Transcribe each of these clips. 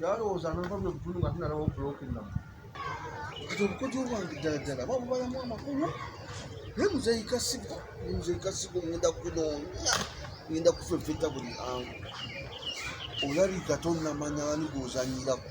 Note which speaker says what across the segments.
Speaker 1: yalowooza nava bwe butulu nga tunalawo buloka ennamu kati obukodyo bwange ddala ddala babubalamu amakulu naye muzeeyi kasigo muzeeyi kasigo ngenda kunoonya ngenda kufefeta buli angu olabika tonnamanya ani gwozanyirako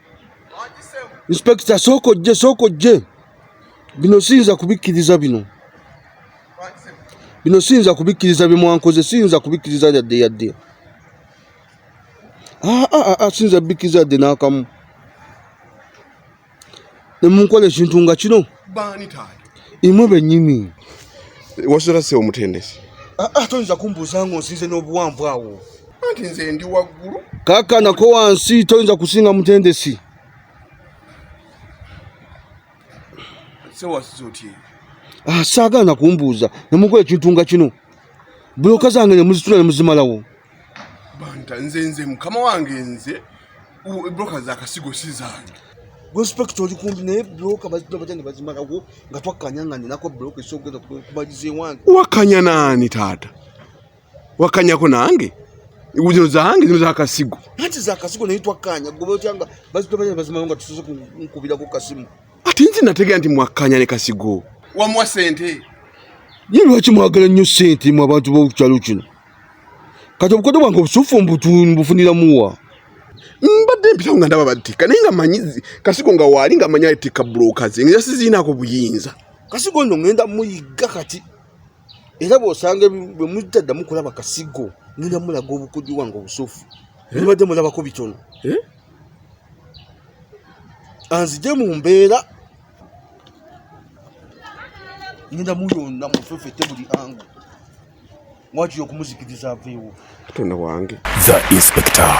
Speaker 1: inspekita sooka ojje sooka ojje bino siyinza kubikkiriza bino bino siyinza kubikkiriza bye mwankoze siyinza kubikkiriza yadde yadde ah, ah, ah, siyinza bikkiriza yadde n'akamu ne munkola ekintu nga kino baani taata
Speaker 2: imwe benyini
Speaker 1: wasula
Speaker 2: se omutendesi ah, ah, toyinza
Speaker 1: kumbuuza nga onsinze n'obuwanvu awo anti nze ndi
Speaker 2: waggulu kaka nako
Speaker 1: wansi toyinza kusinga mutendesi
Speaker 2: sewasiza otye ah,
Speaker 1: saagaana kumbuuza nemukola ekintu nga kino buloka zange nemuzitula nemuzimalawo banta
Speaker 2: nze nze mukama wange nze broka za kasigo si zange respect oli
Speaker 1: kumbi naye broka bazitula batya ne bazimalako nga twakkanya nga ninako broka esoogeza kubaliza ewange wakanya naani
Speaker 2: taata wakanyako nange zino zange zino zakasigo anti zakasigo naye
Speaker 1: twakkanya goba otya nga bazitula batya ne bazimalako nga tusoze nkubirako kasimu ati nzi nategera
Speaker 2: nti mwakkanya ne kasigo wamuwa sente ye
Speaker 1: lwaki mwagala nnyo sente mu abantu b'okukyalo kino kati obukodo bwange obusuffu mbufunira muwa mbadde
Speaker 2: mpitawo nga ndaba battikka naye nga manyi kasigo nga waali nga manyi atikka buloka ze nga siziinaako buyinza kasigo nno ngenda
Speaker 1: muyigga kati era bwosanga bwe mujjaddamu kulaba kasigo ngenda mulaga obukudi wange obusufu eh? mbadde mulabako bitono eh? anzije mu mbeera ngenda muyonna mufefete buli angu mwakiri
Speaker 2: okumuzikiriza
Speaker 3: aveewo
Speaker 1: katonda wange
Speaker 2: the
Speaker 1: inspector